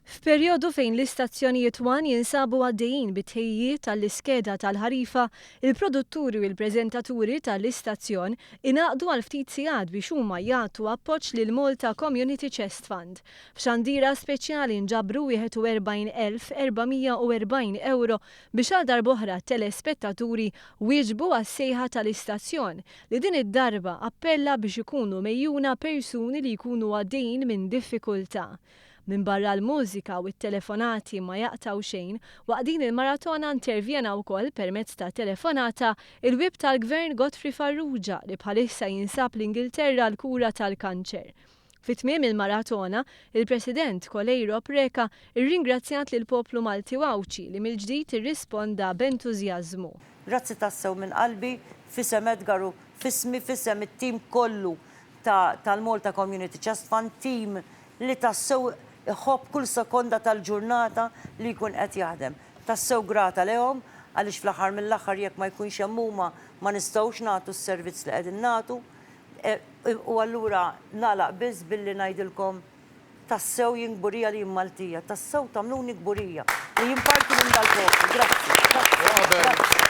F'perjodu fejn l-istazzjonijiet one jinsabu għaddejjin bit-tħejjijiet għall-iskeda tal-ħarifa, il-produtturi u l-preżentaturi ta' l-istazzjon ingħaqdu għal ftit sigħat biex huma jagħtu appoġġ lill-Malta Community Chest Fund. F'xandira speċjali nġabru 41,440 ewro biex għal darb'oħra t-telespettaturi wieġbu għas-sejħa ta' l-istazzjon li din id-darba appella biex ikunu megħjuna persuni li jkunu għaddejjin minn diffikultà Minbarra l-mużika u t-telefonati ma jaqtgħu xejn, waqt din il-maratona intervjena wkoll permezz ta' telefonata il-Whip tal-Gvern Godfrey Farrugia li bħalissa jinsab l-Ingilterra għal kura tal-kanċer. Fi tmiem il-maratona, il-President Coleiro Preca rringrazzjat lill-poplu Malti u Għawdxi li mill-ġdid irrisponda b'entużjażmu. Grazzi tassew minn qalbi, f'isem Edgar u f'ismi, f'isem it-tim kollu ta' tal-Malta Community Trust Fund team li tassew iħobb kull sekonda tal-ġurnata li jkun qed jaħdem. Tassew grata lehom għaliex fl-aħħar mill-aħħar jekk ma jkunx hemm huma ma nistgħux nagħtu s-servizz li qegħdin nagħtu. U allura nagħlaq biss billi ngħidilkom tassew jien kburija li jien Maltija. Tassew tagħmluni kburija li jien parti minn dal-poplu. Grazzi. Grazzi. Grazzi.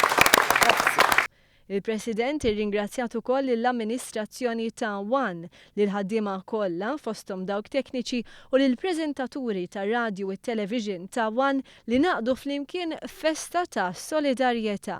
Il-President irringrazzjat ukoll lill-amministrazzjoni ta' one, lill-ħaddiema kollha, fosthom dawk tekniċi, u lill-preżentaturi tar-radju u t-television ta' one li ngħaqdu flimkien f'festa ta' solidarjetà.